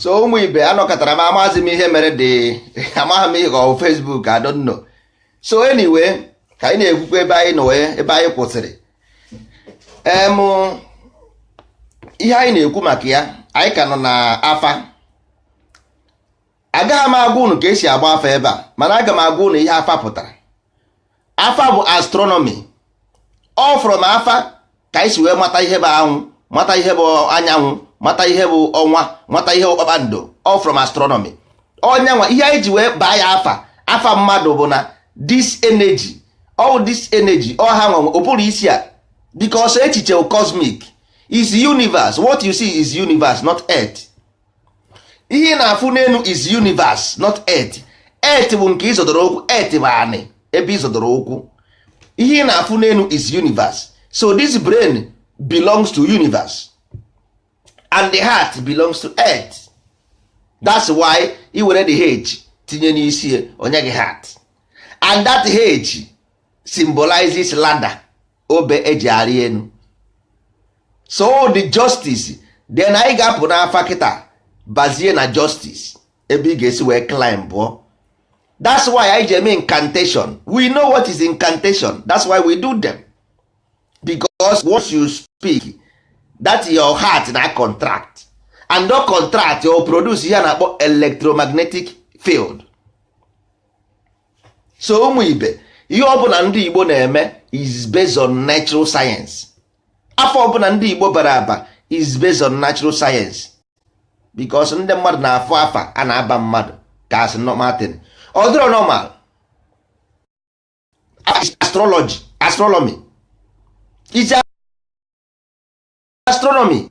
so ụmụ ibe anọkatara m amaghịzi m ihe mere dị amaghị m ihe ka ọ Facebook I don't know so anyway ka anyị na-ekwukwa ebe anyị nọ wee ebe anyị kwụsịrị em ihe anyị na-ekwu maka ya anyị ka nọ na afa agaghị m agwa unu ka esi agba afa ebe a mana aga m agwa unu ihe afa pụtara afa bụ astronomy ọ from afa ka anyị si wee mata ihe bụ anwụ mata ihe bụ anyanwụ mata ihe bụ ọnwa mata ihe bụ kpakpando all from astronomy ọ nya nwa ihe anyị ji wee baa ya afa afa mmadụ bụ na this energy all this energy ọ ha nwa nwe ụbụrụ isi a because echiche cosmic is universe what you see is universe not earth ihe ị na-afụ n'enu is universe not earth earth bụ nke ị zọdoro ụkwụ earth bụ anị ebe ị zọdoro ụkwụ ihe ị na-afụ n'enu is universe so this brain belongs to universe and the heart belongs to earth that's why i were the h tinye n'isi e o nye gị heart and that h symbolizes ladder obe eji arị enu so the justice then anyị ga-apụ n'afa kịta bazie na justice ebe ị ga-esi wee climbụọ that's why eji eme incantation we know what is incantation that's why we do them because once you speak that your heart na contract and ọ contract o produce ihe a na-akpọ electromagnetic field so ụmụ ibe ihe ọbụla ndị Igbo na-eme is based on natural science afa ọbụla ndị Igbo bara aba is based on natural science because ndị mmadụ na-afụ afa a na-aba mmadụ ka a sị normal thing ọ dịrọ normal astrology astronomy is astronomy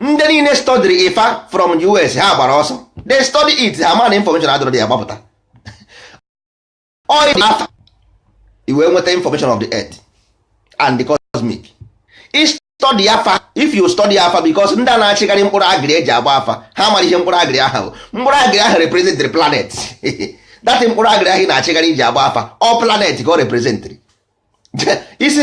ndị niile study ifa from us ha gbara ọsọ they study it ha ma na information adịrọ dị ya gbapụta oil afa i wee nweta information of the earth and the cosmic is study afa if you study afa because ndị a na-achịgharị mkpụrụ agịrị eji agba afa ha mara ihe mkpụrụ agịrị ahụ mkpụrụ agịrị ahụ represent the planet that mkpụrụ agịrị ahụ ị na-achịgharị iji agba afa ọ planet ka ọ representịrị isi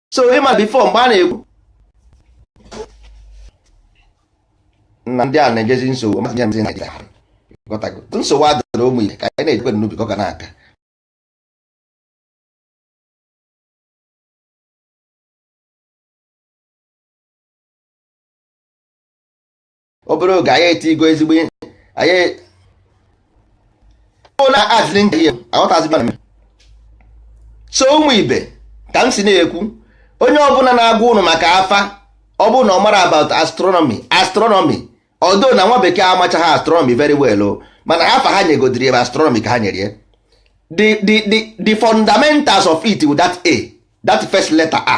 so ị ma before mgbe a na-ekwu na ndị a na-ejezi nsogbu masị ndị Naịjirịa nsogbu adịrị ụmụ ihe ka anyị na-ejikwe n'ubi ka ọ ga na-aga obere oge anyị etigo ezigbo ihe anyị na azịrị nje ihe aghọtazi mana mere so ụmụ ibe ka m si na-ekwu onye ọbụla na-agwa ụnụ maka afa ọ bụrụ na ọ mara about astronomy astronomy although na nwa bekee amachaghị astronomy very well o mana afa ha nyegodiri ebe astronomy ka ha nyere ya the the the the fundamentals of it with that a that first letter a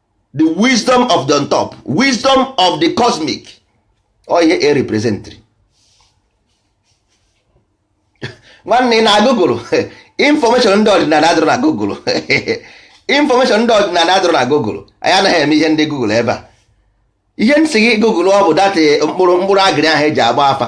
the wisdom of the on top wisdom of the cosmic ọ ihe e representri nwanne ị na google information ndị ọdịnala adịrọ na google information ndị ọdịnala adịrọ na google anyị anaghị eme ihe ndị google ebe a ihe m sị gị google ọ bụ that mkpụrụ mkpụrụ agịrị ahụ e ji agba afa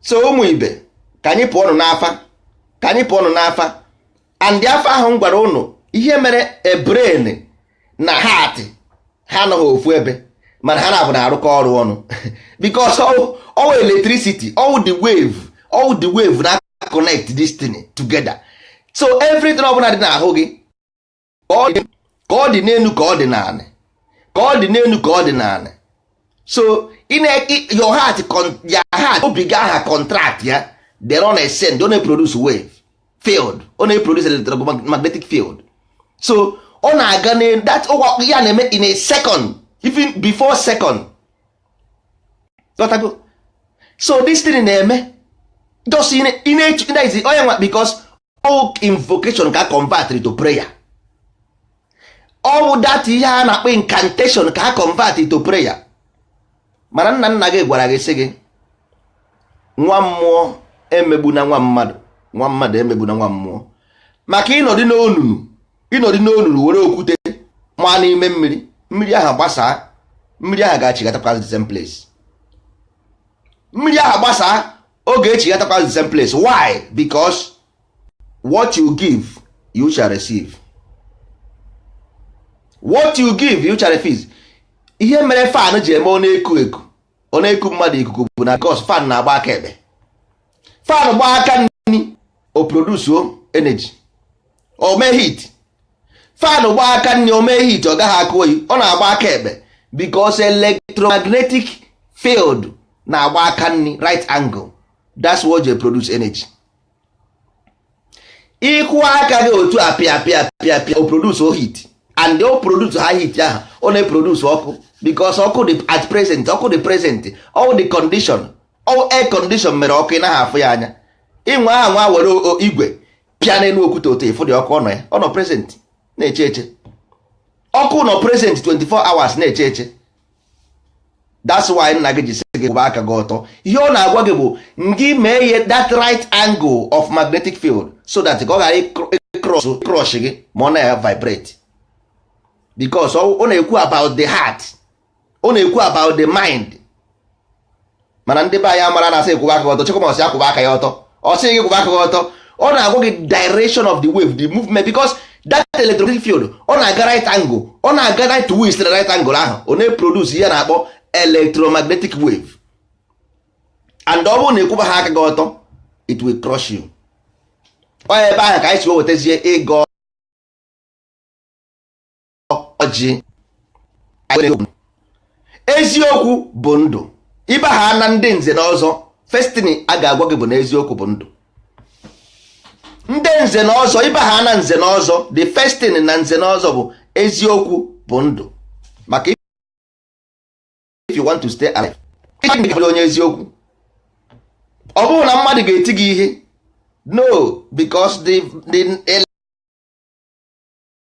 so ụmụ ibe ka anyị pụọ nụ n'afa ka anyị pụọ nụ n'afa and afa ahụ m gwara ụnụ ihe mere brain na heart ha anọghị ofu ebe mana ha na-abụ na-arụkọ ọrụ ọnụ because ọwụ electricity ọwụ the wave ọwụ the wave na-aconnect this thing together so everything ọbụla dị n'ahụ gị ka ọ dị ka ọ dị n'elu ka ọ dị n'anị ka ọ dị n'elu ka ọ dị n'anị so ị na your heart con- your heart obi gị aha contract ya then ọ na-esend ọ na-eproduce wave field ọ na-eproduce electromagnetic field so ọ na-aga na that ụwa ya na-eme in a second even before second Ghọtago? so this thing na-eme just ị na- ị na-eche- ị na-ezi onye nwa because all invocation ka convert to prayer ọwụ that ihe a na-akpọ incantation ka convert to prayer mana nna nna gị gwara gị sị gị nwa mmụọ emegbuna nwa mmadụ nwa mmadụ emegbuna nwa mmụọ maka ị nọdị n'onunu ị nọdị n'onunu were okwute maa n'ime mmiri mmiri ahụ gbasaa mmiri ahụ ga-achịghatakwa the same place mmiri ahụ gbasaa ọ ga-echighatakwa the same place why because what you give you shall receive what you give you shall receive ihe mere fan ji eme ọ na-eku eku ọ na-eku mmadụ ikuku bụ na because fan na-agba aka ekpe fan gbaa aka nni o produce energy o mee heat fan gbaa aka nni o mee heat ọ gaghị akụ oyi ọ na-agba aka ekpe because electromagnetic field na-agba aka nni right angle that's what they produce energy ịkụ aka gị otu a pịa pịa pịa pịa o produce heat and o producecha heat ahụ ọ na-eproduce ọkụ because ọkụ dị at present ọkụ dị present all the condition all air condition mere ọkụ ị naghị afụ ya anya ịnwe aha nwa were igwe pịa n'elu okwute otu ịfụ dị ọkụ ọ nọ ya ọ nọ present na-eche eche ọkụ nọ present 24 hours na-eche eche that's why nna gị ji sị gị kwụba aka gị ọtọ ihe ọ na-agwa gị bụ ngị mee ihe that right angle of magnetic field so that ka ọ ghara ịcrush gị ma ọ na-vibrate because ọ na-ekwu about the heart ọ na-ekwu about the mind mana ndị be anyị amara na a sị akwụba aka ọtọ chekwa ọ sị akwụba aka ya ọtọ ọ sị gị kwụba aka gị ọtọ ọ na-agwa gị direction of the wave the movement because that electromagnetic field ọ na-aga right angle ọ na-aga right way site right angle ahụ ọ na-eproduce ihe a na-akpọ electromagnetic wave and ọ bụrụ na ị kwụbaha aka gị ọtọ it will crush you ọ ebe ahụ ka anyị si wetazie ịgọ ọjị eziokwu bụ ndụ ị baha na ndị nze na ọzọ first thing a ga-agwa gị bụ na eziokwu bụ ndụ ndị nze na ọzọ ị baha na nze na ọzọ the first thing na nze na ọzọ bụ eziokwu bụ ndụ maka if you want to stay alive ị bụrụ onye eziokwu ọ bụrụ na mmadụ ga-eti gị ihe no because the the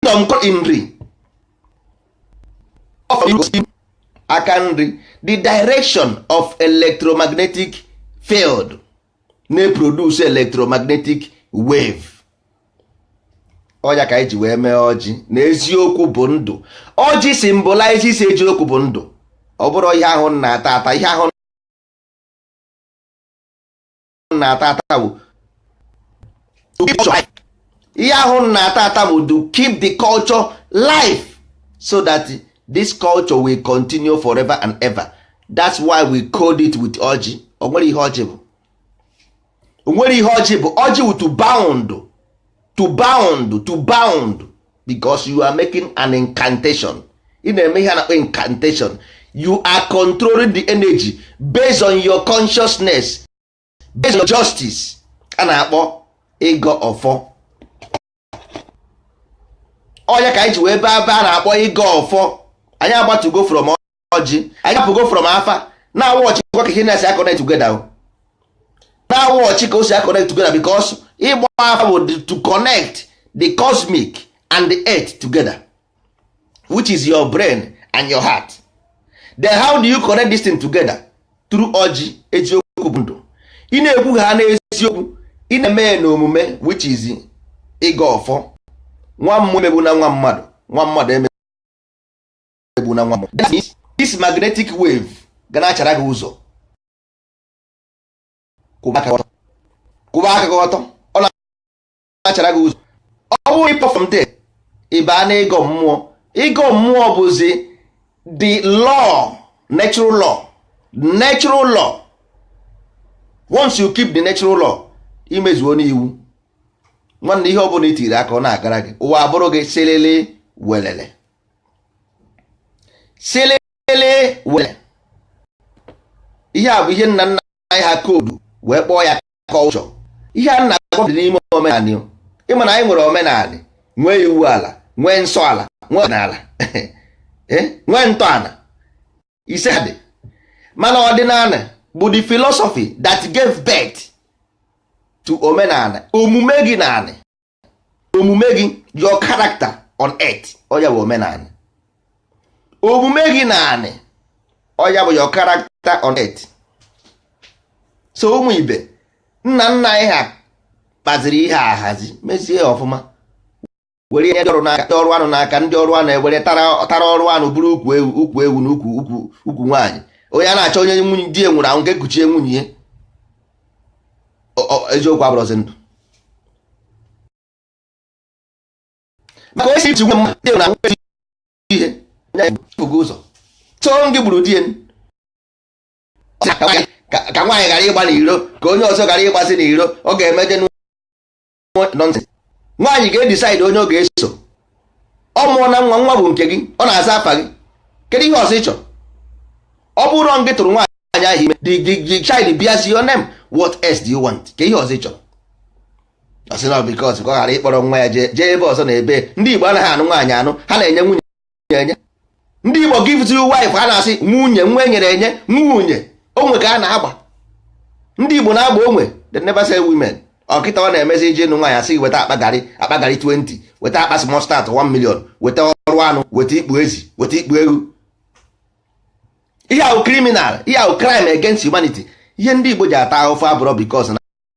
kingdom called Nri aka nri the direction of electromagnetic field na-eproduce electromagnetic wave ọ ya ka anyị ji wee mee ọjị na eziokwu bụ ndụ ọjị symbolizes eziokwu bụ ndụ ọ bụrọ ihe ahụ na-ata ata ihe ahụ na-ata ata bụ ihe ahụ na-ata ata bụ to keep the culture alive so that this culture will continue forever and ever that's why we code it with ọjị o nwere ihe ọjị bụ o nwere ihe ọjị bụ ọjị wụ to bound to bound to bound because you are making an incantation ị na-eme ihe a na-akpọ incantation you are controlling the energy based on your consciousness based on your justice a na-akpọ ịgọ ọfọ ọ ya ka anyị ji wee bịa ebe a na-akpọ ịgọ ọfọ anyị agbatugo from ọjị anyị apụgo from afa now watchịkwa ka ihe na-esi aconnect together o now watch ka o si aconnect together because ịgba afa bụ to connect the cosmic and the earth together which is your brain and your heart then how do you connect this thing together through ọjị eziokwu bụ ndụ ị na-ekwu ha n'eziokwu ị na-eme ya n'omume which is ịgọ ọfọ nwa mmụọ emegbuna nwa mmadụ nwa mmadụ eme egbuna nwa this magnetic wave ga na-achara gị ụzọ kwụba aka gị ọtọ ọ na-achara gị ụzọ ọ bụrụ ị pụ from there ị baa na ịgọ mmụọ ịgọ mmụọ bụzi the law natural law natural law once you keep the natural law i mezuona iwu nwanne ihe ọ bụla i tiri aka ọ na-agara gị ụwa abụrụ gị silili welele silili welele ihe a bụ ihe nna nna anyị ha koodu wee kpọọ ya culture ihe a na-agwa dị n'ime omenala ị ma na anyị nwere omenala nwee iwu ala nwee nsọ ala nwee ọdịnala eh? nwee ntọala ise dị mana ọdịnala bụ the philosophy that gave birth to omenala omume gị na anị omume gị your character on earth ọ ya bụ omenala omume gị na anị ọ ya bụ your character on earth so ụmụ ibe nna nna anyị ha kpaziri ihe ahazi mezie ọfụma were ihe ndị ọrụ n'aka ndị ọrụ anụ n'aka ndị ọrụ anụ ewere tara ọrụ anụ bụrụ ukwu ewu na ukwu nwaanyị onye a na-achọ onye nwunye di nwụrụ anwụ ka e kuchie nwunye eziokwu abụrụzi ndụ maka onye iji nwe mmadụ na nwere ihe bụgo ụzọ so ngị gburu di ka nwaanyị ghara ịgba n'iro ka onye ọzọ ghara ịgbazi n'iro ọ ga-emeje nonsense nwaanyị ga-edecide onye ọ ga-eso ọ mụọna nwa nwa bụ nke gị ọ na-aza afa gị kedu ihe ọzọ ị chọrọ ọ bụrụ gị tụrụ nwaanyị ahụ ime the child bears your name what else do you want kee ihe ọzọ ị chọrọ ọ sị na because ka ọ ghara ịkpọrọ nwa ya jee ebe ọzọ na ebe ndị Igbo anaghị anụ nwaanyị anụ ha na-enye nwunye enye ndị Igbo gives you wife a na-asị nwunye nwa e nyere enye nwunye onwe ka a na-agba ndị Igbo na-agba onwe they never sell women ọ kịta ọ na-emezi i je ịnụ nwaanyị a sị weta akpa garị akpa garị 20 weta akpa small stout 1 million weta ọrụ anụ weta ikpu ezi weta ikpu ewu ihe a wụ criminal ihe a wụ crime against humanity ihe ndị Igbo ji ata ahụfụ abụrọ because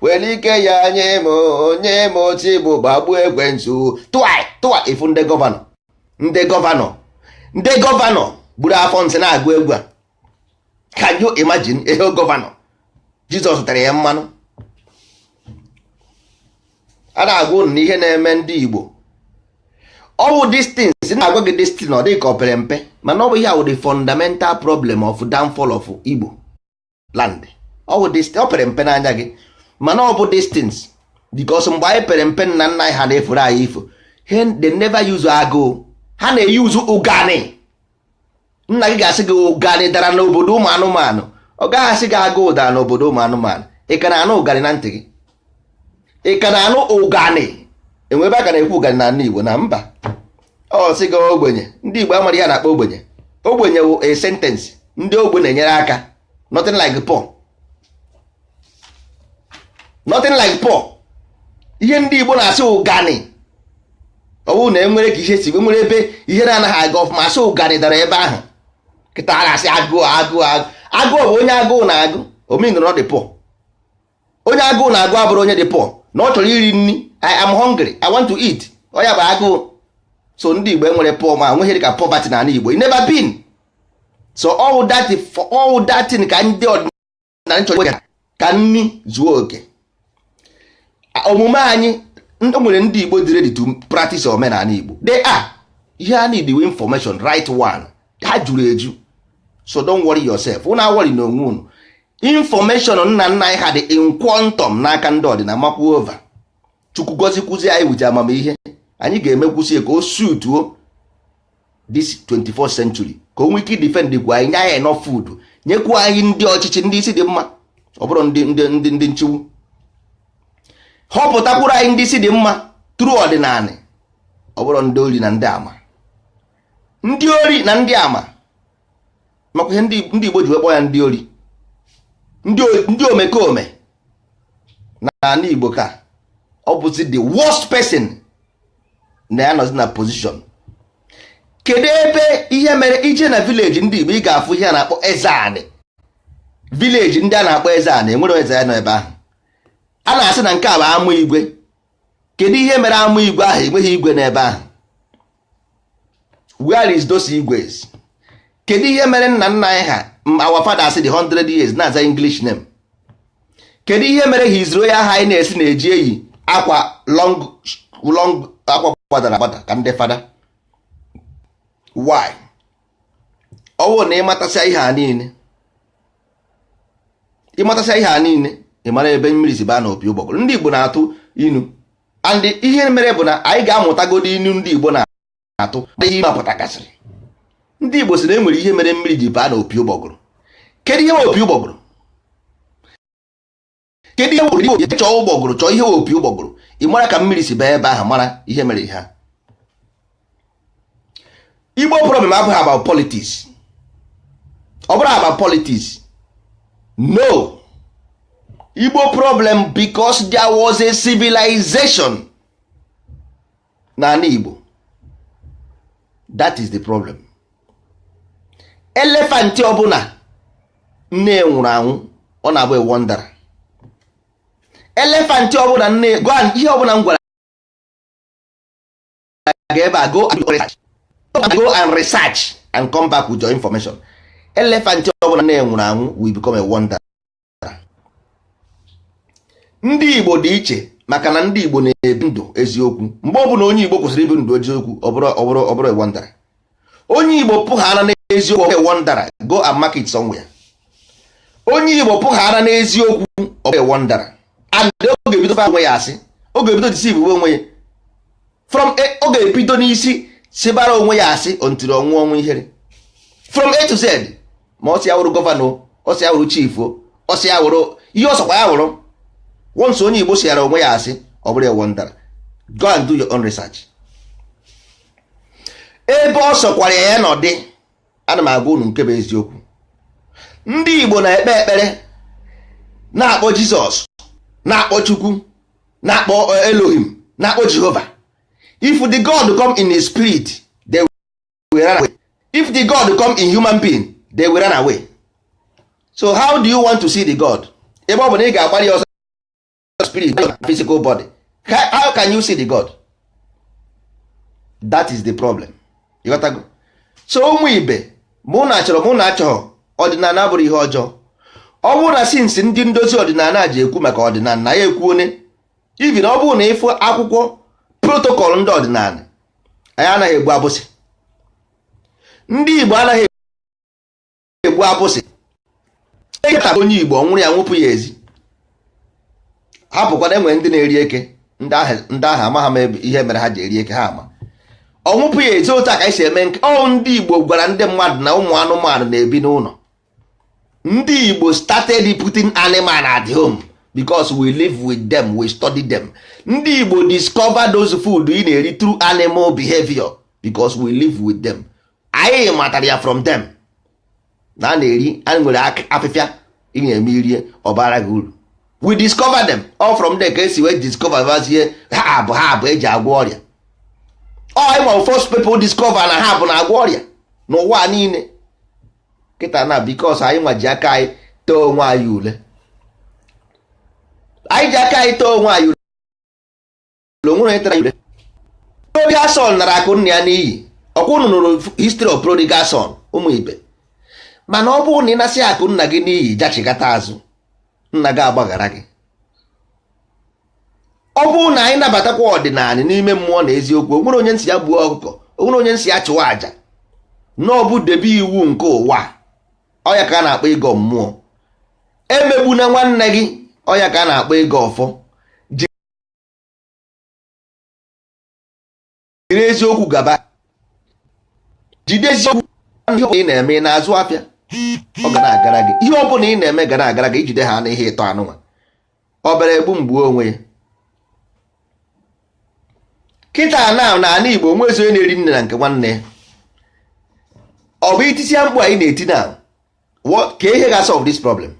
were ike ya nye m o nye m otu egbe gbagbuo ekwensu tụa tụa ị fụ ndị gọvanọ ndị gọvanọ ndị gọvanọ buru afọ nsị na-agụ egwu a can you imagine ihe gọvanọ jizọs tere ya mmanụ a na-agwa unu na ihe na-eme ndị igbo ọ bụ these things na-agwa gị these things ọ dị ka o pere mpe mana ọ bụ ihe a wụ the fundamental problem of downfall of igbo land ọ wụ ọ pere mpe n'anya gị mana ọ bụ distance because mgbe anyị pere mpe nna nna anyị ha na-eforo anyị ifo they never use agụụ ha na-eyuzu ụganị nna gị ga-asị gị ụganị dara n'obodo ụmụ anụmanụ ọ gaghị asị gị agụụ dara n'obodo ụmụ anụmanụ ị ka na-anụ ụganị na ntị gị ị ka na-anụ ụganị enwere ebe a ka na-ekwu ụganị n'ala Igbo na mba ọ sị gị ogbenye ndị Igbo amarọ ihe a na-akpọ ogbenye ogbenye wụ a sentence ndị ogbe na-enyere aka nothing like poor nothing like poor ihe ndị Igbo na-asị ụganị ọ bụrụ na enwere ka ihe si wee nwere ebe ihe na-anaghị aga ọfụma asị ụganị dara ebe ahụ kịtaa a na-asị agụụ agụụ agụụ agụụ bụ onye agụụ na-agụ ọ mean na ọ dị poor onye agụụ na-agụ abụrọ onye dị poor na ọ chọrọ iri nri i am hungry i want to eat ọ ya bụ agụụ so ndị igbo enwerọ poor ma nweghị dịka poverty na ala igbo it never been so all that all that thing ka ndị ọdịnala chọrọ iwega ka nri zuo oke A- omume anyị ndị nwere ndị igbo dị ready to practice omenala igbo they are ihe a need wụ information right one ha juru eju so don't worry yourself unu awọrịna onwe unu information nna nna anyị ha dị in quantum n'aka ndị ọdịna makwu ova chukwu gozikwuzi anyị ụdị amamihe anyị ga-emekwuzi ka o sutuo this 21st century ka o nwee ike defendkwu anyị nye anyị enough food nyekwu anyị ndị ọchịchị ndị isi dị mma ọ bụrọ ndị ndị ndị ndị chukwu họpụtakwuru anyị ndị isi dị mma through ọdịnala ọ bụrọ ndị ori na ndị ama ndị ori na ndị ama makwa ihe ndị Igbo ji wee kpọọ ya ndị ori ndị omekome na ala Igbo ka ọ bụzi the worst person na ya nọzi na position kedu ebe ihe mere ị jee na village ndị Igbo ị ga-afụ ihe a na-akpọ eze anị village ndị a na-akpọ eze anị enwere eze ya nọ ebe ahụ a na-asị na nke a bụ ama igwe kedu ihe mere ama igwe ahụ enweghị igwe n'ebe ahụ where is those igwes kedu ihe mere nna nna anyị ha our fathers dị 100 years na-aza english name kedu ihe mere his royal highness na-eji eyi akwa long long akwa gbadara agbada ka ndị fada why ọ wụ na ị matasịa ihe a niile ị matasịa ihe a niile ị mara ebe mmiri si baa na opi ụgbọgụrụ ndị Igbo na-atụ inu and ihe mere bụ na anyị ga-amụtagodo inu ndị Igbo na-atụ ihe ha pụtagasịrị ndị Igbo sị na e nwere ihe mere mmiri ji baa na opi ụgbọgụrụ kedu ihe opi ụgbọgụrụ kedu ihe wụrụ Igbo chọọ ụgbọgụrụ chọọ ihe wụ opi ụgbọgụrụ ị mara ka mmiri si baa ebe ahụ mara ihe mere ihe ha igbo problem abụghị about politics ọ bụrụ about politics no igbo problem because there was a civilization n'ala igbo that is the problem elephant ọbụla nne ya nwụrụ anwụ ọ na-abụ a wanderer elephant ọbụla nne go and ihe ọbụla m gwara gị ebe a go and research and come back with your information elephant ọbụla nne ya nwụrụ anwụ will become a wanderer ndị Igbo dị iche maka na ndị Igbo na-ebi ndụ eziokwu mgbe ọbụla onye Igbo kwụsịrị ibi ndụ eziokwu ọ bụrụ a wanderer onye igbo pụghara n'eziokwu ọ bụrụ wanderer go and mark it somewhere onye igbo pụghara n'eziokwu ọ bụrụ wanderer and ọ ga-ebido fa onwe ya asị ọ ga-ebido deceive onwe ya from ọ ga-ebido n'isi sibara onwe ya asị until ọ nwụọ ọnwụ ihere from a to z ma ọ sị ya wụrụ gọvanọ ọ sị ya wụrụ chief ọ sị ya wụrụ ihe ọ sọkwa ya wụrụ once onye igbo siara onwe ya asị ọ bụrụ a wanderer go and do your own research ebe ọ sọkwara ya ya nọdị ana m agwa unu nke bụ eziokwu ndị Igbo na-ekpe ekpere na-akpọ Jizọs na-akpọ Chukwu na-akpọ eh, Elohim na-akpọ Jehova if the God come in his spirit they will run away if the God come in human being they will run away so how do you want to see the God ebe ọ bụ na ị ga-agbara ya ọsọ spirit na physical body how can you see the god that is the problem you got to go so ụmụ ibe ma unu chọrọ ma unu achọghị ọdịnala bụrụ ihe ọjọọ ọ bụrụ na since ndị ndozi ọdịnala ji ekwu maka ọdịnala na ya ekwu onye even ọ bụrụ na ị fụ akwụkwọ protocol ndị ọdịnala anyị anaghị egbu abụsị ndị Igbo anaghị egbu abụsị onye igbo nwụrụ ya nwụpụ ya ezi hapụkwa na e nwere ndị na-eri eke ndị ahụ amaghị m ihe mere ha ji eri eke ha ama ọnwụpụ ya ezi otu a ka anyị si eme nke ọ ndị igbo gwara ndị mmadụ na ụmụ anụmanụ na-ebi n'ụlọ ndị igbo started putting animal at home because we live with them we study them ndị igbo discover those food ị na-eri through animal behavior because we live with them anyị matara ya from them na a na-eri anyị nwere afịfịa ị na-eme i rie ọ baara gị uru we discover them all from there ka esi wee discover bazie herb eji agwọ ọrịa ọ anyị nwa first people discover na herb na-agwọ ọrịa n'ụwa niile kịta na because anyị nwa ji aka anyị too onwe anyị ule anyị ji aka anyị too onwe anyị ule onwere onye tara ule prodigal son nara akụ nna ya n'iyi ọkwa unu nụrụ history of prodigal son ụmụ ibe mana ọ bụrụ na ị nasị akụ nna gị n'iyi jachigata azụ nna gị agbaghara gị ọ bụrụ na anyị nabatakwa ọdịnala n'ime mmụọ na eziokwu onwere onye m sị ya gbuo ọkụkọ onwere onye m sị ya chụwa àjà na ọ bụ debe iwu nke ụwa ọya ka a na-akpọ ịgọ mmụọ emegbuna nwanne gị ọya ka a na-akpọ ịgọ ọfọ jiri eziokwu gaba jide eziokwu ihe ọbụla ị na-eme ị na-azụ afịa ọ ga na-agara gị ihe ọbụla ị na-eme ga na-agara gị ijide ha n'ihe ịtọ anụnwa ọ bịara egbu m gbuo onwe ya kịta na n'ala Igbo onwezi onye na-eri nri na nke nwanne ya ọ bụ itisia mkpu anyị na-eti na what ka ihe ga solve this problem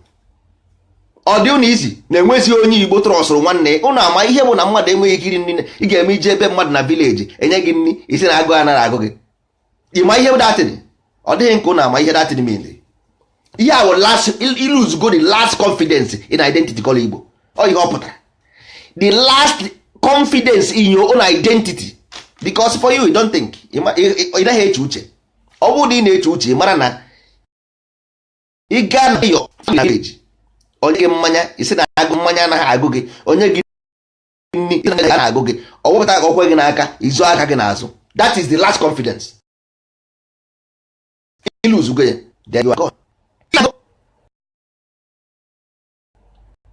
ọ dị ụnụ easy na enwezi onye igbo trustụrụ nwanne ụnụ ama ihe bụ na mmadụ enweghị ike iri nri ị ga-eme ije ebe mmadụ na village enye gị nri ị sị na agụụ anaghị agụ gị ịma ihe that thing ọ dịghị nke ụnụ ama ihe that thing mean ihe a i lose go the last confidence in identity called igbo ọ ihe ọ pụtara the last confidence in your own identity because for you you don't think ị naghị eche uche ọ bụrụ na ị na-eche uche mara na ị gaa na your village o nye gị mmanya ị sị na agụụ mmanya anaghị agụ gị o nye gị nri ị sị na agụ gị ọ wepụta ka ọ kwe gị n'aka i zoo aka gị n'azụ that is the last confidence i lose go ya then you are gone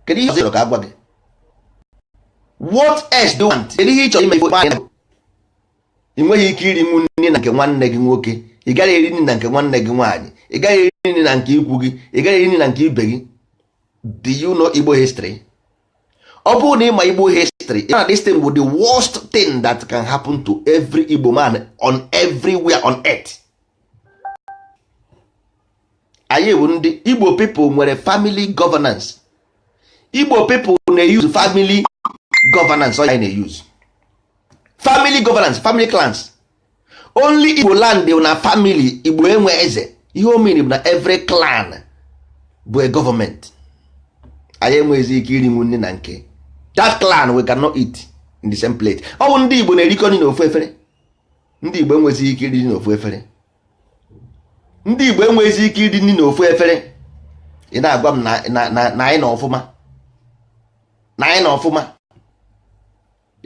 kedu ihe ọzọ ka a gwa gị what else do you want kedu ihe ị chọrọ ime ife nwaanyị na-agụ ị nweghị ike irinwu nri na nke nwanne gị nwoke ị gaghị eri nri na nke nwanne gị nwaanyị ị gaghị eri nri na nke ikwu gị ị gaghị eri nri na nke ibe gị do you know Igbo history ọ bụrụ na ịma Igbo history na this thing bụ the worst thing that can happen to every Igbo man on everywhere on earth anyị bụ ndị igbo people nwere family governance igbo people na-use family governance ọ na-use family governance family clans only igbo land na family igbo enwe eze ihe o mean bụ na every clan bụ a government anyị enweghịzi ike irinwu nri na nke that clan we cannot eat in the same plate ọ bụ ndị igbo na-erikọ nri n'ofu efere ndị igbo enweghịzi ike iri n'ofu efere ndị Igbo enweghịzi ike iri nri n'ofu efere ị na-agwa m na anyị nọ ọfụma na anyị nọ ọfụma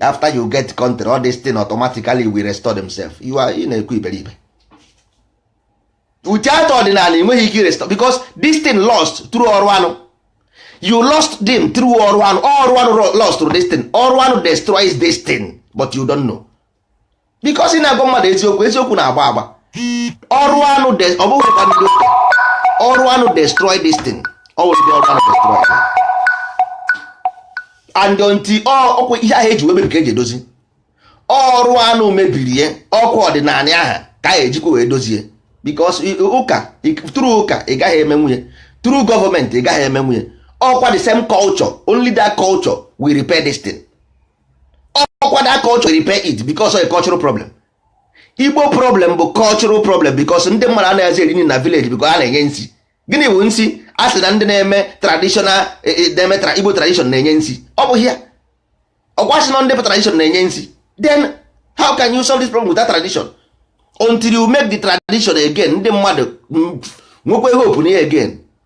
after you get country all this thing automatically will restore themselves you are ị na-ekwu iberibe without ọdịnanị enweghị ike restore because this thing lost through ọdịnanị you lost them through ọdịnanị ọdịnanị lost through this thing ọdịnanị destroys this thing but you don't know because ị na-agwa mmadụ eziokwu eziokwu na-agba agba ọdịnanị ọ bụghịkwa ndị ụka ọdịnanị destroy this thing ọ bụ ndị ọdịnanị destroy and until ọkwa ihe ahụ eji mebie ka eji edozi ọdịnanị mebiri ya ọkwa ọdịnanị ahụ ka a ejikwa wee dozie because ụka through ụka ị gaghị emenwu ya through gọọmenti ị gaghị emenwu ya ọkwa the same culture only that culture will repair this thing ọkwa that culture will repair it because of a cultural problem igbo problem bụ cultural problem because ndị mmadụ anaghịzi eri nri na village because a na-enye nsi gịnị bụ nsi a sị na ndị na-eme traditional e, e, na-eme igbo tradition na-enye nsi ọ bụghị ya ọkwa a sị na ndị tradition na-enye nsi then how can you solve this problem without tradition until you make the tradition again ndị mmadụ nwekwa hope na ya again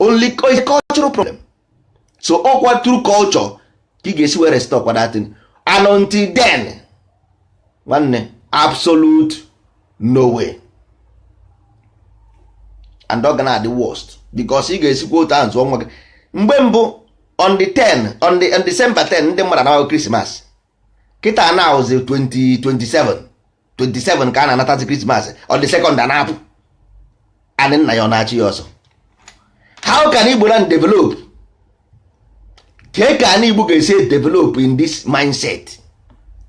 only is cultural problem so ọkwa through culture ka ị ga-esi were restorekwa that thing and until then nwanne absolute no way and ọ ga na-adị worst because ị ga-esikwa otu ahụ zụọ nwa gị mgbe mbụ on the 10 on the on December 10 ndị mmadụ anawa krismas kịta na-awụzi 20 27 27 ka a na-anatazi krismas on the second a na-apụ anị nna ya ọ na-achụ ya ọsọ how can igbo land develop kee ka anị igbo ga-esi develop in this mindset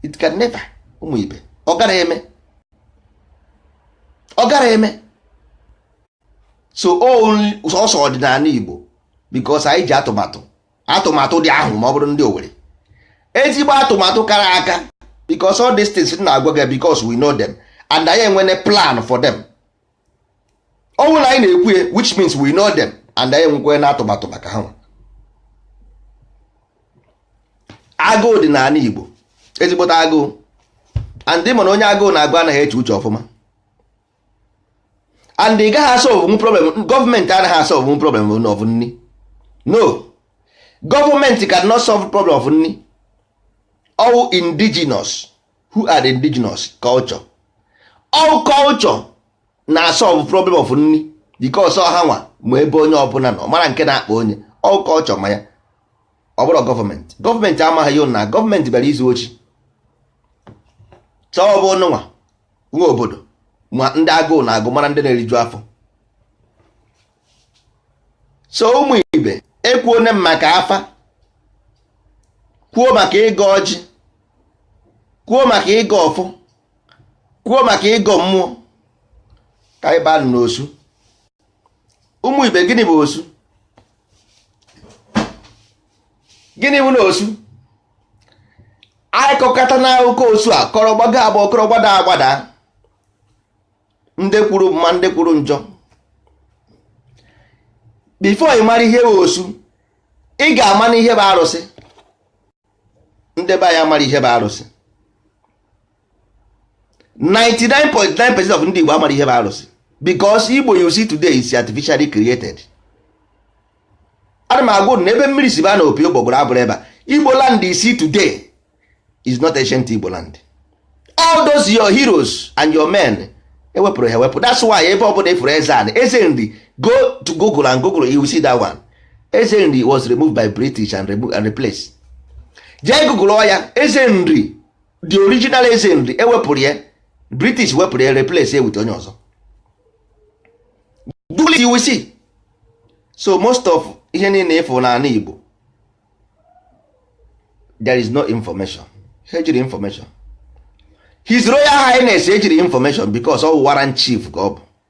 it can never ụmụ ibe ọ gara eme ọ gara eme so ọ sọ ọdịnanị Igbo because anyị ji atụmatụ atụmatụ dị ahụ ma ọ bụrụ ndị Owerri ezigbo atụmatụ kara aka because all these things na-agwa gị because we know them and anyị enwene plan for them ọ bụrụ na anyị na-ekwu ya which means we know them and anyị enwekwene atụmatụ maka ha agụụ dị n'ala Igbo ezigbote agụụ and mana onye agụụ na-agụ anaghị eche uche ọfụma and ị gaghị asolvenwu problem gọọmenti anaghị asolvenwu problem of nni no gọọmenti cannot solve problem of nni ọ wụ indigenous who are the indigenous culture ọ culture na-asolve problem of nni because ọ ha nwa ma ebe onye ọbụla nọ mara nke na-akpa onye ọ culture ma ya ọ bụrọ gọọmenti gọọmenti amaghị ya na gọọmenti bịara izu oshi so ọ bụ unu nwa nwa obodo ma ndị agụụ na-agụ mara ndị na-eriju afọ so ụmụ ibe ekwuo ne m maka afa kwuo maka ịgọ ọjị kwuo maka ịgọ ọfọ kwuo maka ịgọ mmụọ ka anyị baa n'osu ụmụ ibe gịnị bụ osu gịnị bụ na osu a kọkata na akụkọ osu a kọrọ gbago agbago kọrọ gbada agbada ndị kwuru mma ndị kwuru njọ before ị mara ihe bụ osu ị ga-amanụ ihe bụ arụsị ndị be anyị amarọ ihe bụ arụsị 99.9 percent of ndị Igbo amarọ ihe bụ arụsị because Igbo you see today is artificially created ana m agwa unu ebe mmiri si ba na opi ụgbọgụrụ abụrụ ebe a Igbo land you see today is not ancient Igbo land all those your heroes and your men ewepụrụ ha ewepụ that's why ebe ọbụla ị fụrụ eze anị eze nri go to Google and Google you see that one eze nri was removed by British and, removed and replaced jee Google ya eze nri the original eze nri ewepụrụ ya british wepụrụ ya replace ya with onye ọzọ google you will see so most of ihe niile ị fụ n'ala igbo there is no information ha ejirọ information his royal highness ejirọ information because ọ warrant chief ka ọ bụ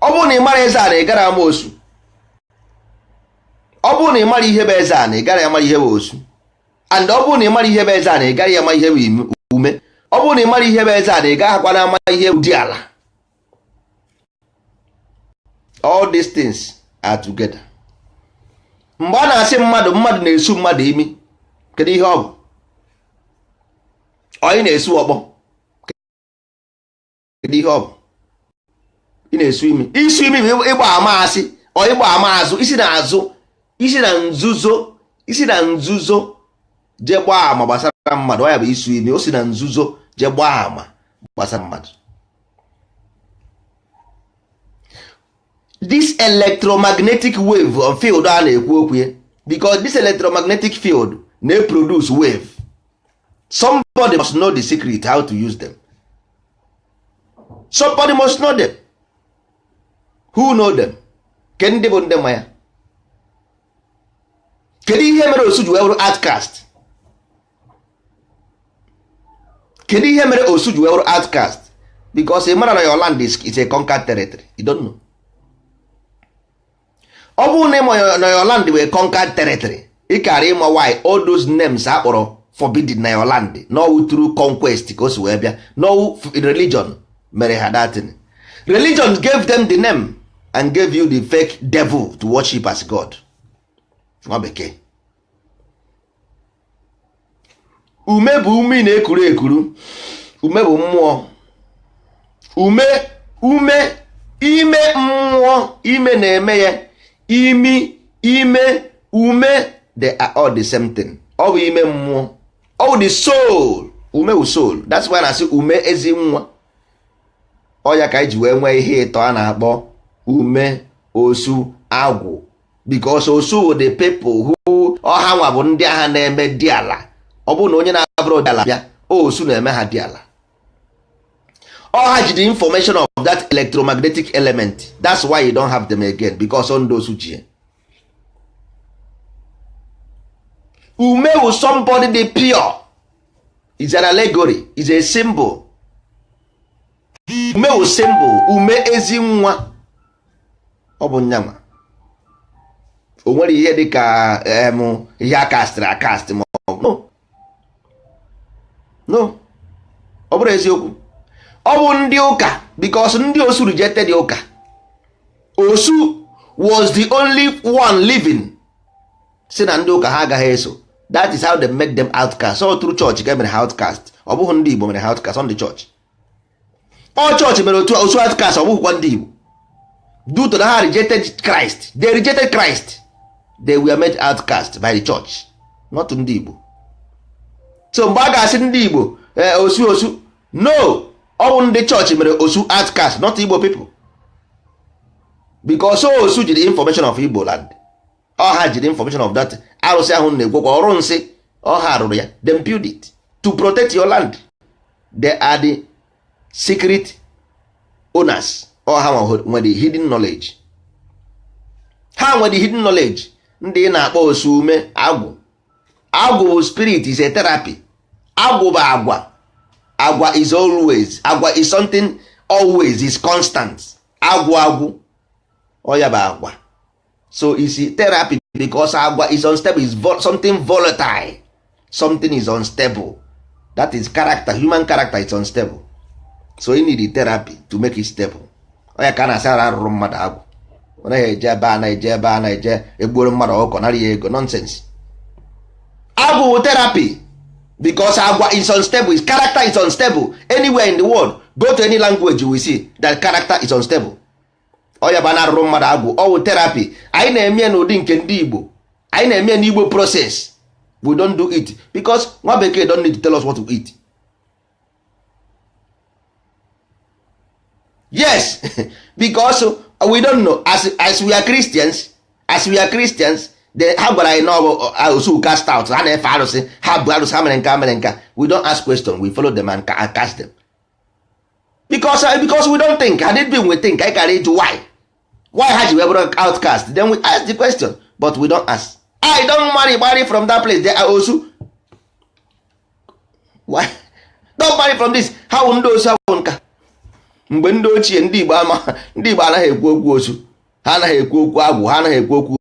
ọ bụrụ na ị mara eze ana ị gara ama osu ọ bụrụ na ị mara ihe bụ eze ana ị gara ama ihe bụ osu and ọ bụrụ na ị mara ihe bụ eze ana ị gara ama ihe bụ ume ọ bụrụ na ị mara ihe bụ eze ana ị gaghị akwana ama ihe bụ diala all these things are together mgbe a na-asị mmadụ mmadụ na-esu mmadụ imi kedu ihe ọ bụ onye na-esu ọkpọ kedu ihe ọ bụ ị na-esu imi isu imi bụ ịgba ama asị ọ ịgba ama azụ isi na azụ isi na nzuzo isi na nzuzo je gbaa ama gbasara mmadụ ọ ya bụ isu imi o si na nzuzo je gbaa ama gbasara mmadụ this electromagnetic wave of field a na-ekwu okwu ya because this electromagnetic field na-produce wave somebody must know the secret how to use them somebody must know them who know them kedu ndị bụ ndị ma ya kedu ihe mere osu ji wee bụrụ outcast kedu ihe mere osu ji wee wụrụ outcast because ị mara na your land is, is a conquered territory you don't know ọ bụrụ na ịma your- na your land wụ conquered territory ị kara ịma why all those names a kpọrọ forbidden na your land na ọ wụ through conquest ka o si wee bịa na ọ wụ f- religion mere ha that thing religion gave them the name and gave you the fake devil to worship as god nwa bekee ume bụ ume ị na-ekuru ekuru ume bụ mmụọ ume ume ime mmụọ ime na-eme ya imi ime ume they are all the same thing ọ bụ ime mmụọ ọ bụ the soul ume bụ soul that's why a na-asị ume ezi nwa ọ ya ka anyị ji wee nwee ihe ịtọ a na-akpọ ume osu agwụ because osu the people who ọ hanwa bụ ndị ahụ na-eme diala ọ bụrụ na onye na-abụrọ diala bịa osu na-eme ha diala ọ ha ji the information of that electromagnetic element that's why you don't have them again because ọ ndị osu ji ume wụ somebody dị pure is an allegory is a symbol ume wụ symbol ume ezi nwa ọ bụ nyanwa o nwere ihe dị ka em ihe a kastịrị akastị ma ọ bụ no no ọ bụrụ eziokwu ọ bụ ndị ụka because ndị osu rejected ụka osu was the only one living si na ndị ụka ha agaghị eso that is how they made them outcast so through church ka e mere ha outcast ọ bụghị ndị igbo mere ha outcast ọ ndị church ọ chọọchị mere osu outcast ọ bụghịkwa ndị Igbo due to na ha rejected Christ they rejected Christ they were made outcast by the church not ndị Igbo so mgbe a ga-asị ndị Igbo eh, osu osu no ọ bụ ndị church mere osu outcast not Igbo people because osu ji the information of Igbo land ọ ha ji the information of that arụsị ahụ na-egwekwa ọrụ nsị ọ ha rụrụ ya dem build it to protect your land they are the secret owners ọ ha nwe the hidden knowledge ha nwe the hidden knowledge ndị ị na-akpọ osu ume agwụ agwụ bụ spirit is a therapy agwụ bụ agwa agwa is always agwa is something always is constant agwụ agwụ ọ ya bụ agwa so is therapy because agwa is unstable is vol something volatile something is unstable that is character human character is unstable so you need therapy to make it stable ọ ya ka a na-asị ara arụrụ mmadụ agwụ ọ naghị eje ebe a na-eje ebe a na-eje egbuoro mmadụ ọkụkọ nara ya ego nonsense agwụ wụ therapy because agwa is unstable his character is unstable anywhere in the world go to any language you will see that character is unstable ọ ya bụ na-arụrụ mmadụ agwụ ọ wụ therapy anyị na-eme n'ụdị nke ndị Igbo anyị na-eme n'Igbo process we don't do it because nwa bekee don't need to tell us what to eat yes because we don't know as, as we are Christians as we are Christians then ha gwara anyị na ọ bụ osu uh, cast out ha na-efe arụsị ha bụ arụsị ha mere nka mere nka we don't ask question we follow them and cast them because uh, because we don't think had it been we think anyị kara ịjụ why why ha ji wee bụrụ outcast then we ask the question but we don't ask I don't marry marry from that place they are osu why don't marry from this ha wụ ndị osu ha wụ nka mgbe ndị ochie ndị Igbo ama ndị Igbo anaghị ekwu okwu osu ha anaghị ekwu okwu agwụ ha anaghị ekwu okwu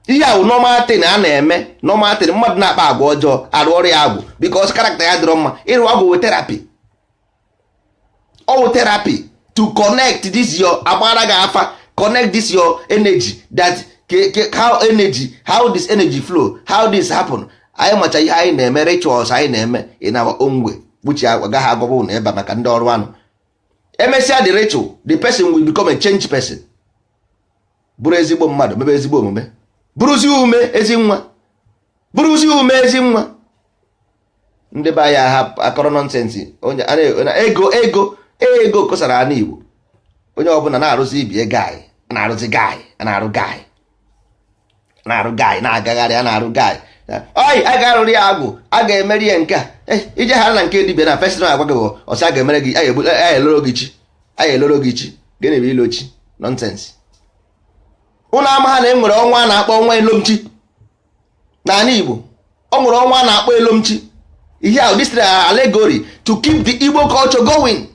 ihe ahụ normal thing a na-eme normal thing mmadụ na-akpa agwa ọjọọ arụọrọ ya agwụ because character ya adịrọ mma ịrụ agwụ wụ therapy ọ wụ therapy to connect this your agbaara gị afa connect this your energy that ke- ke- how energy how this energy flow how this happen anyị macha ihe anyị na-eme rituals anyị na-eme in our own way which agaghị agwa ụnụ ebe a maka ndị ọrụ anụ emesịa the ritual the person will become a change person bụrụ ezigbo mmadụ mebe ezigbo omume bụrụzi ume ezi nwa bụrụzi ume ezi nwa ndị be anyị aha akọrọ nonsense onye a na- na- ego ego ego kosara ana Igbo onye ọbụla na-arụzi I be guy a na-arụzi guy a na-arụ guy na-arụ guy na-agagharị a na-arụ guy oyi a ga-arụrụ ya agwụ a ga-emere ya nke a eh, i jehaa na nke dibịa na first thing a gwa gị ọ sị a ga-emere gị a ya-eloro gị chi a ya-eloro gị chi gịnị bụ ilo chi nonsense ụnụ amaha na e nwere ọnwa a na-akpọ ọnwa elomchi n'ala Igbo ọ nwere ọnwa a na-akpọ elomchi ihe ahụ this allegory to keep the Igbo culture going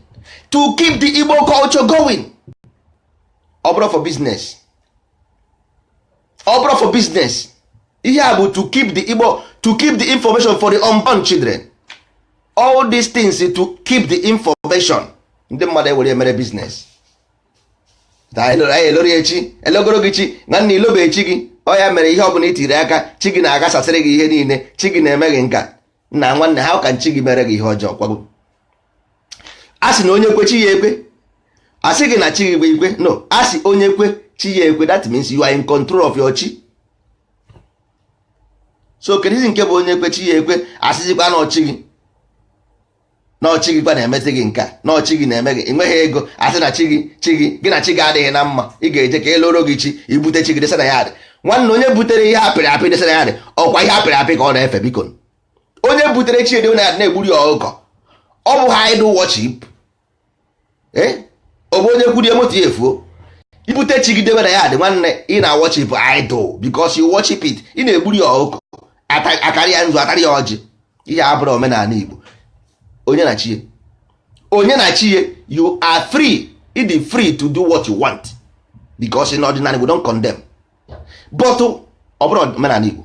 to keep the Igbo culture going ọ bụrọ for business ọ bụrọ for business ihe a bụ to keep the Igbo to keep the information for the unborn children all these things to keep the information ndị mmadụ ewere mere business eloro chi elogoro gị chi nwanne ilobe chi gị ọ ya mere ihe ọ bụla i tiri aka chi gị na-aghasasịrị gị ihe niile chi gị na-eme gị nka nna nwanne how can chi gị mere gị ihe ọjọọ kwago a sị na onye kwe chi ya ekwe a sị gị na chi gị bụ ikwe no a sị onye kwe chi ya ekwe that means you are in control of your chi so kedizi nke bụ onye kwe chi ya ekwe a sịzikwa na ọ chi gị na ọ chi gị kwa na-emezi gị nke a na ọ chi gị na-eme gị ị nweghị ego a sị na chi gị chi gị gị na chi gị adịghị na mma ị ga-eje ka e loro gị chi i bute chi gị desa na yard nwanne onye butere ihe a pịrị apị desa na yard ọ kwa ihe a pịrị apị ka ọ na-efe biko onye butere chi ede na na-egburi ya ọkụkọ ọ bụha idol worship eh? ọ bụ onye kwurie moto ya efuo i bute chi gị debe na yard nwanne ị na worship idol because you worship it ị na-egburi ya ọkụkọ ata- akarị ya nzu atarị ya ọjị ihe a abụrọ omenala Igbo onye na chi ya onye na chi ya you are free ị dị free to do what you want because in ọdịnanị we don't condemn but ọ bụrọ omenala Igbo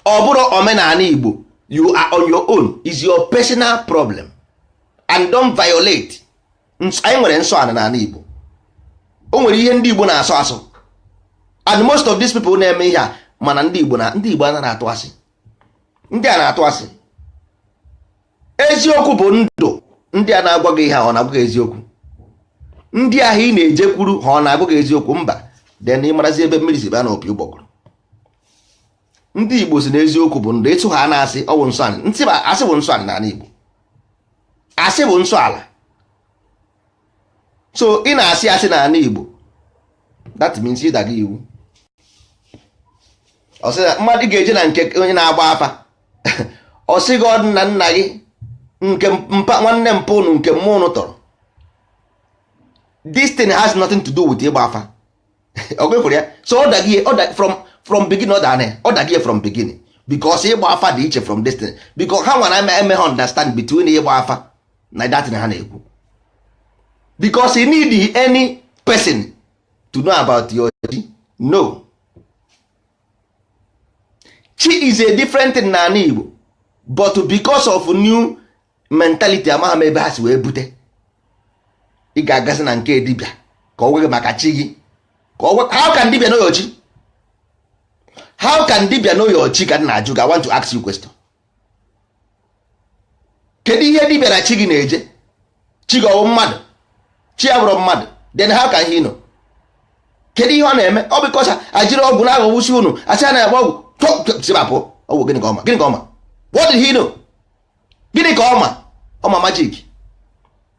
ọ bụrọ omenala Igbo you are on your own is your personal problem and don't violate anyị nwere nsọ ana n'ana Igbo o nwere ihe ndị Igbo na-asọ asọ and most of these people na-eme ihe a mana ndị Igbo na ndị Igbo anaghị atụ asị ndị a na-atụ asị eziokwu bụ ndụ ndị a na-agwa gị ihe ọ na-agwa gị eziokwu ndị ahụ ị na-ejekwuru ha ọ na-agwa gị eziokwu mba then ị marazi ebe mmiri si baa na opi ụgbọgụrụ ndị Igbo sị na eziokwu bụ ndụ ịtụ ha na asị ọ bụ nsọ ntị ba asị bụ nsọ ala n'ala Igbo asị bụ nsọ ala so ị na-asị asị n'ala Igbo that means ị daga iwu ọ sị na mmadụ ga-eje na nke onye na-agba afa ọ sị gị ọ dị na nna gị nke mpa nwanne mpa ụnụ nke mma ụnụ tọrọ this thing has nothing to do with ịgba afa ọ gwefere ya so ọ daghị from from beginning ọ dana ọ daghị from beginning because ịgba afa dị iche from this thing because ha nwere eme eme ha understand between ịgba afa na that thing ha na-ekwu because you need any person to know about your no chi is a different thing n'anị Igbo but because of new mentality amaghị m ebe ha si wee bute ị ga-agazi na nke dibịa ka ọ gwa gị maka chi gị ka ọ gwa how can dibịa know your chi how can dibịa know your chi ka m na-ajụ gị I want to ask you question kedu ihe dibịa na chi gị na-eje chi gị ọ wụ mmadụ chi abụrọ mmadụ then how can he know kedu ihe ọ na-eme ọ because a jiri ọgwụ na-aghọgbusi unu a sị a na-agba ọgwụ tọsibapụ ọgwụ gịnị ka ọ ma gịnị ka ọ ma what did he know gịnị ka ọ ma ọ ma magic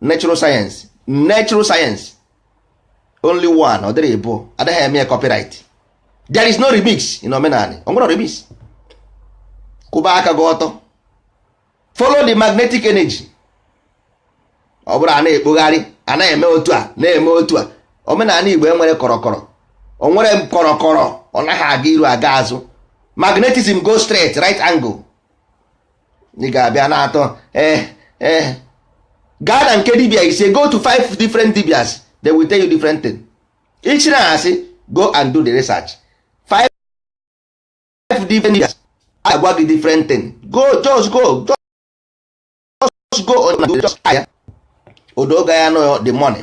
natural science natural science only one ọ dịrị ịbụ anaghị eme copyright there is no remix in omenanị o nwerọ remix kwụba aka gị ọtọ follow the magnetic energy ọ bụrụ a na-ekpogharị a na-eme otu a na-eme otu a omenanị igbo enwerọ kọrọkọrọ o nwerọ kọrọkọrọ ọ naghị aga iru aga azụ magnetism go straight right angle ị ga-abịa na-atọ ee eh, ee eh. gaa na nke dibia ise go to five different dibias they will tell you different thing ichi na asị go and do the research five different dibias agwa gị different thing go just go just go on just aya odoga ya no the money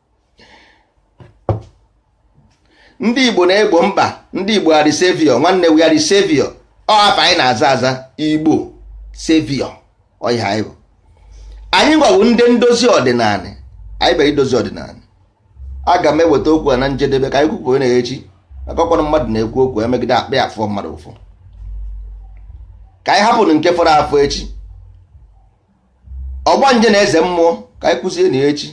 ndị igbo na-egbo mkpa ndị igbo are the savior nwanne we are the savior ọ hapụ anyị na-aza aza igbo savior ọ ihe anyị bụ anyị nwa wụ ndị ndozi ọdịnanị anyị bịara idozi ọdịnanị aga m eweta okwu a na njedebe ka anyị kwupụ na echi maka ọ bụrụ mmadụ na-ekwu okwu emegide akpịrị afụ mmadụ ụfụ ka anyị hapụ nke fọrọ afọ echi ọgbanje na eze mmụọ ka anyị kwuzie na echi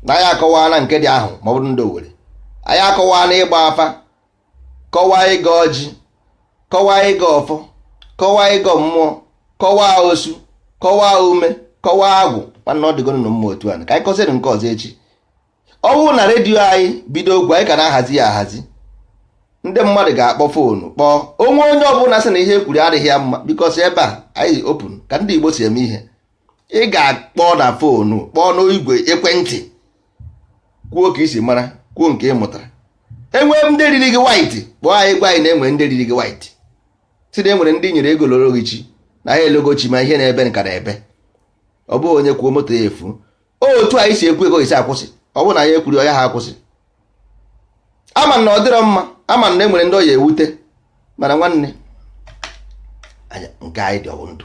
na anyị akọwana nke dị ahụ ma ọ bụrụ ndị Owerri anyị akọwana ịgba afa kọwaa ịgọ ọjị kọwaa ịgọ ọfọ kọwaa ịgọ mmụọ kọwaa osu kọwaa ume kọwaa agwụ nwanne ọ dịgonụ mma otu a ka anyị kọsịrị nke ọzọ echi ọ bụrụ na redio anyị bido okwu anyị ka na-ahazi ya ahazi ndị mmadụ ga-akpọ phone kpọọ o nwee onye ọbụla sị na ihe e kwuru adịghị ya mma because ebe a anyị open ka ndị Igbo si eme ihe ị ga-akpọ na phone kpọọ n'igwe ekwentị kwuo ka i si mara kwuo nke ị mụtara enwee ndị riri gị white kpọọ anyị gwa anyị na enwere ndị riri gị white sị na enwere ndị nyere ego loro gị chi na ha elogo chi ma ihe na-ebe ka na-ebe ọ bụghị onye kwuo moto ya efu otu anyị si ekwu ọ ga-esi akwụsị ọ bụrụ na anyị ekwurọ ọ yaha akwụsị ama m na ọ dịrọ mma ama m na e nwere ndị ọ ya-ewute mana nwanne nke anyị dị ọ wụ ndụ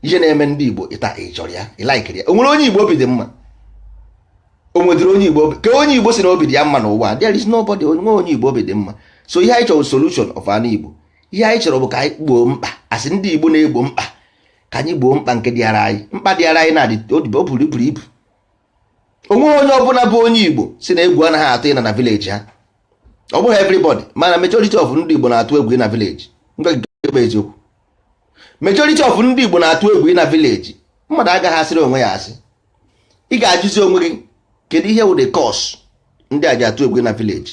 ihe na-eme ndị Igbo taa ị chọrọ ya ị laikiri ya o nwerọ onye Igbo obi dị mma o nwedịrọ onye Igbo obi ka onye Igbo sị na obi dị ya mma n'ụwa there is nobody onwe onye Igbo obi dị mma so ihe anyị chọrọ solution of an Igbo ihe anyị chọrọ bụ ka anyị gboo mkpa a sị ndị Igbo na-egbo mkpa ka anyị gboo mkpa nke dịara anyị mkpa dịara anyị na-adị o buru buru ibu onweghị onye ọbụla bụ onye Igbo sị na egwu anaghị atụ ịna na village ha ọ bụghị everybody mana majority of ndị Igbo na-atụ egwu ịna village bụ eziokwu majority of ndị Igbo na-atụ egwu ịna village mmadụ agaghị asịrị onwe ya asị ị ga-ajụzi onwe gị kedu ihe wụ the cause ndị a ji atụ egwu na village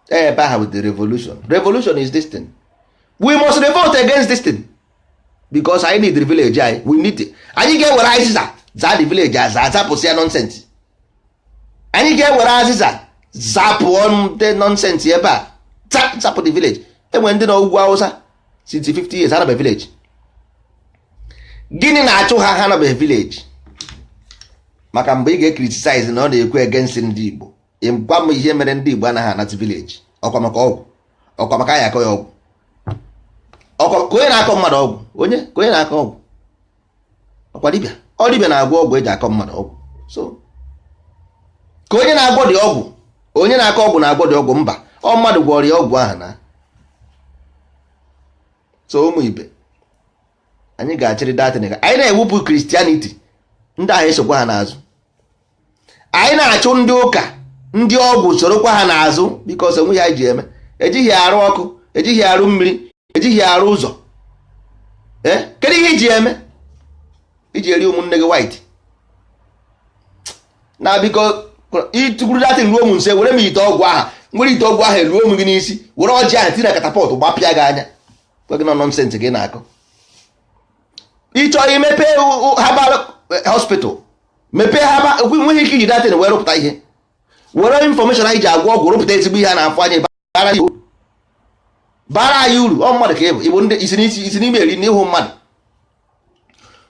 ebe aha wụ the revolution revolution is this thing we must revolt against this thing because anyị need the village anyị we need it. anyị ga-ewere azịza zaa the village aza azapụsị ya nonsense anyị ga-ewere azịza zapụ all the nonsense ebe a Za- zapụ the village enwere ndị nọ ugwu Awụsa since 50 years ha anabe village gịnị na-achụ ha ha anabe village maka mgbe ị ga-ecriticize na ọ na-ekwu against ndị Igbo gwa m ihe mere ndị Igbo anaghị anati village ọkwa maka ọgwụ ọkwa maka a ya-akọ ya ọgwụ ọkwa ka onye na-akọ mmadụ ọgwụ onye ka onye na-akọ ọgwụ ọkwa dibịa ọ dibịa na-agwọ ọgwụ eji akọ mmadụ ọgwụ so ka onye na-agwọdị ọgwụ onye na-akọ ọgwụ na-agwọdị ọgwụ mba ọ mmadụ gwọrọ ya ọgwụ ahụ na so ụmụ ibe anyị ga-achịrị that thing anyị na-ewepụ Christianity ndị ahụ esokwa ha n'azụ anyị na-achụ ndị ụka ndị ọgwụ sorokwa ha n'azụ because onwe ihe eji eme ejighị arụ ọkụ ejighị arụ mmiri ejighị arụ ụzọ eh? kedu ihe iji eme iji eri ụmụnne gị white na biko ịtụkwuru that thing ruo m nso were m ite ọgwụ aha m were ite ọgwụ ahụ eruo m gị n'isi were ọjị ahụ tinye na catapult gbapịa gị anya gwa gị na nonsense ị na-akọ ịchọọ imepe herbal eh, hospital mepee herbal nweghị ike iji that thing wee rụpụta ihe were information ahụ iji agwọ ọgwụ rụpụta ezigbo ihe a na-afụ anya bara anyị uru bara anyị uru ọ mmadụ ka ịbụ ịbụ ndị isi n'ime eri n'ihu mmadụ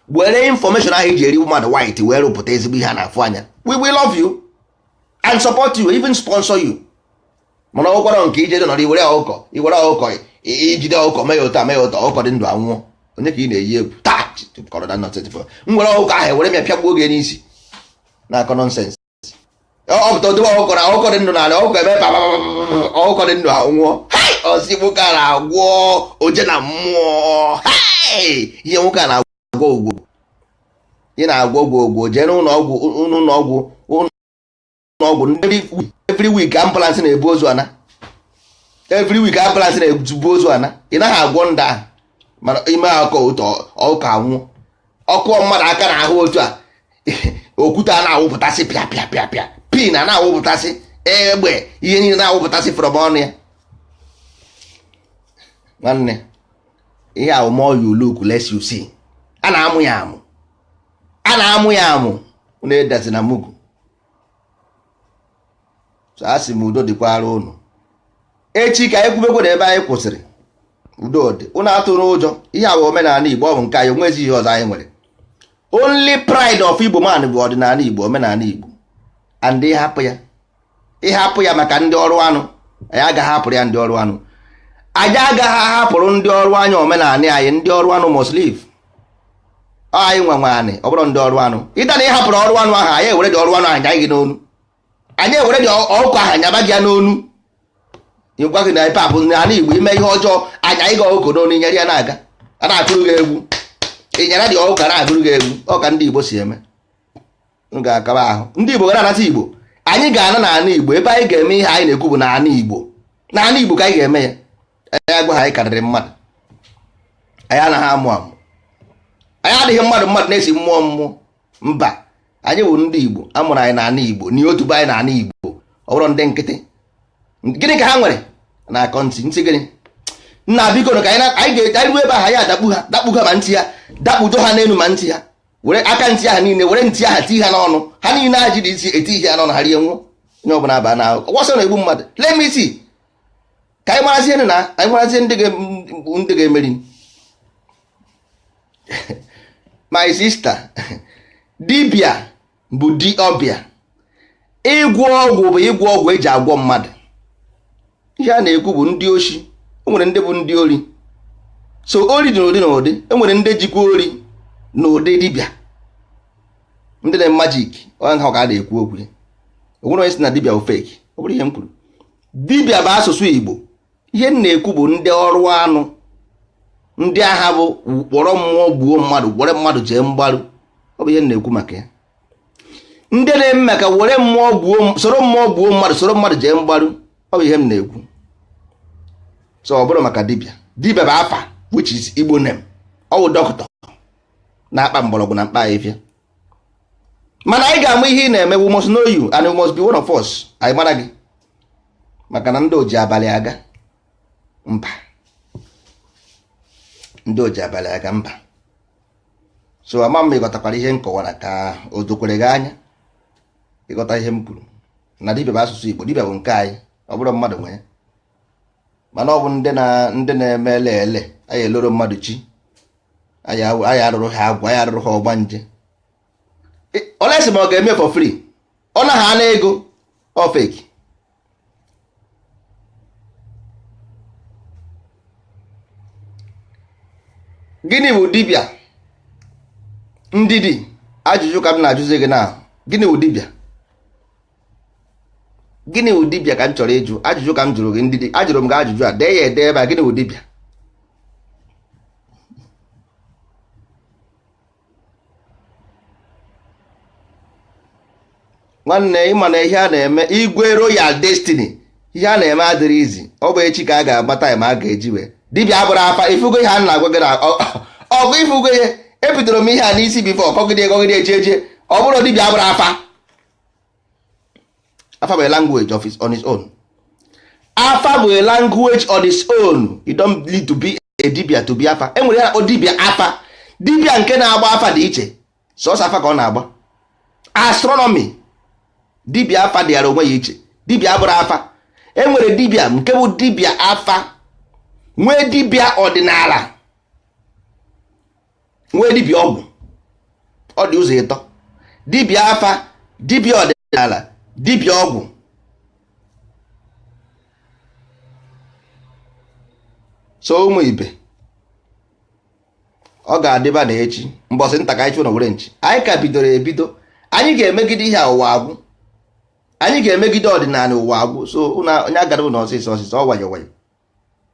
were information ahụ iji eri mmadụ white wee rụpụta ezigbo ihe a na-afụ anya we will love you and support you even sponsor you mana ọ bụkwara nke ije nọrọ iwere ọkụkọ iwere ọkụkọ ijide ọkụkọ mee ya otu a mee ya otu a ọkụkọ dị ndụ anwụọ onye ka ị na-eyi egwu taa kọrọ na nọtịtị m were ọkụkọ ahụ ewere m ya pịagbuo gị n'isi na-akọ nonsense ọpụta odobe ọkụkọ na ọkụkọ dị ndụ n'ala ọkụkọ eme ọkụkọ dị ndụ anwụọ a sị nwoke a na-agwọ oje na mmụọ ihe nwoke a na-agwọ ọgwụ ị na-agwọ ọgwụ jee n'ụlọ ọgwụ ụlọ ọgwụ ụlọ ọgwụ every week ambulance na-ebu ozu ana every week ambulance na-ebu ozu ana ị naghị agwọ ndị ahụ mana ime aka otu a ọkụkọ anwụ ọ kụọ mmadụ aka n'ahụ otu a okwute a na-awụpụtasị pịa pịa pịa pịa pin a na-awụpụtasị egbe ihe niile na-awụpụtasị from ọnụ ya nwanne ihe ahụ more you look less you see a na-amụ ya amụ a na-amụ ya amụ unu edazi na mugu so a sị m udo dịkwara unu echi ka anyị kwubekwe na ebe anyị kwụsịrị udo dị unu atụna ụjọ ihe a bụ omenala igbo ọ bụ nke anyị onwezi ihe ọzọ anyị nwere only pride of igbo man bụ ọdịnala igbo omenala igbo and ịhapụ ya ịhapụ ya maka ndị ọrụ anụ anyị agaghị ahapụrụ ya ndị ọrụ anụ anyị agaghị ahapụrụ ndị ọrụ anya omenala anyị ndị ọrụ anụ must leave Ọ anyị nwe nwe anị ọ bụrọ ndị ọrụ anụ ịta na ị hapụrọ ọrụ anụ ahụ anyị ewere dị ọrụ anụ ahụ nya gị n'onu anyị ewere dị ọkụ ahụ nyaba gị ya n'onu ịgwa gị na pap n'ala igbo i mee ihe ọjọọ a nya gị ọkụkọ n'onu nyara ya na-aga a na-akụrụ gị egwu ị nyara dị ọkụkọ a na-agụrụ gị egwu ọ ka ndị igbo si eme m ga-akaba ahụ ndị Igbo ga na-anata Igbo anyị ga-ana na ana Igbo ebe anyị ga-eme ihe anyị na-ekwu bụ na ana Igbo na ana Igbo ka anyị ga-eme ya anyị agwa ha anyị karịrị mmadụ anyị anaghị amụ amụ anyị adịghị mmadụ mmadụ na-esi mmụọ mmụọ mba anyị bụ ndị Igbo a mụrụ anyị na ana Igbo na otu be anyị na ana Igbo ọ bụrọ ndị nkịtị gịnị ka ha nwere na akọ ntị ntị gịnị nna biko ka anyị garuo ebe ahụ anyị adakpu ha dakpu ha ma ntị ya dakpudo ha n'elu ma ntị ha were aka ntị aha niile were ntị aha tii ha n'ọnụ ha niile a jiri isi eti ihe n'ọnụ ha rie nwụọ onye ọbụla aba na ahụ ọsọ na-egbu mmadụ let me see ka anyị marazie na anyị marazie ndị ga-emeri my sister dibịa bụ di ọbịa ịgwọ ọgwụ bụ ịgwọ ọgwụ e ji agwọ mmadụ ihe a na-ekwu bụ ndị oshi e nwere ndị bụ ndị ori so ori dị n'ụdị n'ụdị e nwere ndị jikwa ori n'ụdị dibịa ndị na majik onye ha ka a na-ekwu okwu ya o nwere onye si na dibịa bụ fake ọ bụrọ ihe m kwuru dibịa bụ asụsụ igbo ihe m na-ekwu bụ ndị ọrụ anụ ndị aha bụ kpọrọ mmụọ gbuo mmadụ kpọrọ mmadụ jee mgbaru ọ bụ ihe m na-ekwu maka ya ndị na-eme maka were mmụọ gbuo soro mmụọ gbuo mmadụ soro mmadụ jee mgbaru ọ bụ ihe m na-ekwu so ọ bụrọ maka dibịa dibịa bụ afa which is igbo name ọ bụ doctor na-akpa mgbọrọgwụ na mkpa afịfịa mana anyị ga-ama ihe ị na-eme we must know you and you must be one of us anyị mara gị maka na ndị oji abalị aga mba ndị oji abalị aga mba so ama m ị ghọtakwara ihe m kọwara ka o dokwere gị anya ị ghọta ihe m kwuru na dibịa bụ asụsụ Igbo dibịa bụ nke anyị ọ bụrọ mmadụ nwe ya mana ọ bụ ndị na-eme ele ele anyị eloro mmadụ chi anyị arụrụ ha agwụ anyị arụrụ ha ọgbanje unless ma ọ ga-eme for free ọ naghị ana ego ọ fake gịnị bụ dibịa Ndidi ajụjụ ka m na-ajụzi gị na gịnị bụ dibịa gịnị bụ dibịa ka m chọrọ ịjụ ajụjụ ka m jụrụ gị Ndidi ajụrụ m gị ajụjụ a dee ya ede ebe a gịnị bụ dibịa nwanne ịma na ihe a na-eme igwe royal destiny ihe a na-eme adịrị easy ọ bụ echi ka a ga-agba time a ga-eji wee dibịa abụrụ afa ifugo ihe a na-agwa gị na ọ bụ ifugo ihe ebidoro m ihe a n'isi before kọgide kọgide eji eje ọ bụrụ dibịa abụrụ afa afa bụ a language on its own afa bụ a language on its own you don't need to be a dibịa to be afa enwere ihe a kpọ dibịa afa dibịa nke na-agba afa dị iche sọsọ afa ka ọ na-agba astronomy dibịa afa dịara onwe ya iche dibịa abụrụ afa enwere dibịa nke bụ dibịa afa nwee dibịa ọdịnala nwee dibịa ọgwụ ọ dị ụzọ ịtọ dibịa afa dibịa ọdịnala dibịa ọgwụ so ụmụ ibe ọ ga-adịba na echi mbọsị nta ka anyị chụọ n'owere nchi anyị ka bidoro ebido anyị ga-emegide ihe a ụwa agwụ anyị ga-emegide ọdịnala ụwa agwụ so onye agana n'ọsịsọ ọsịsọ ọ nwayọ nwayọ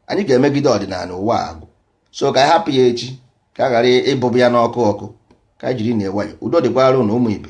anyị ga-emegide ọdịnala ụwa agwụ so ka anyị hapụ ya echi ka a ghara ịbụbụ ya n'ọkụ ọkụ ka anyị jiri nwayọ udo dịkwara ụnụ ụmụ ibe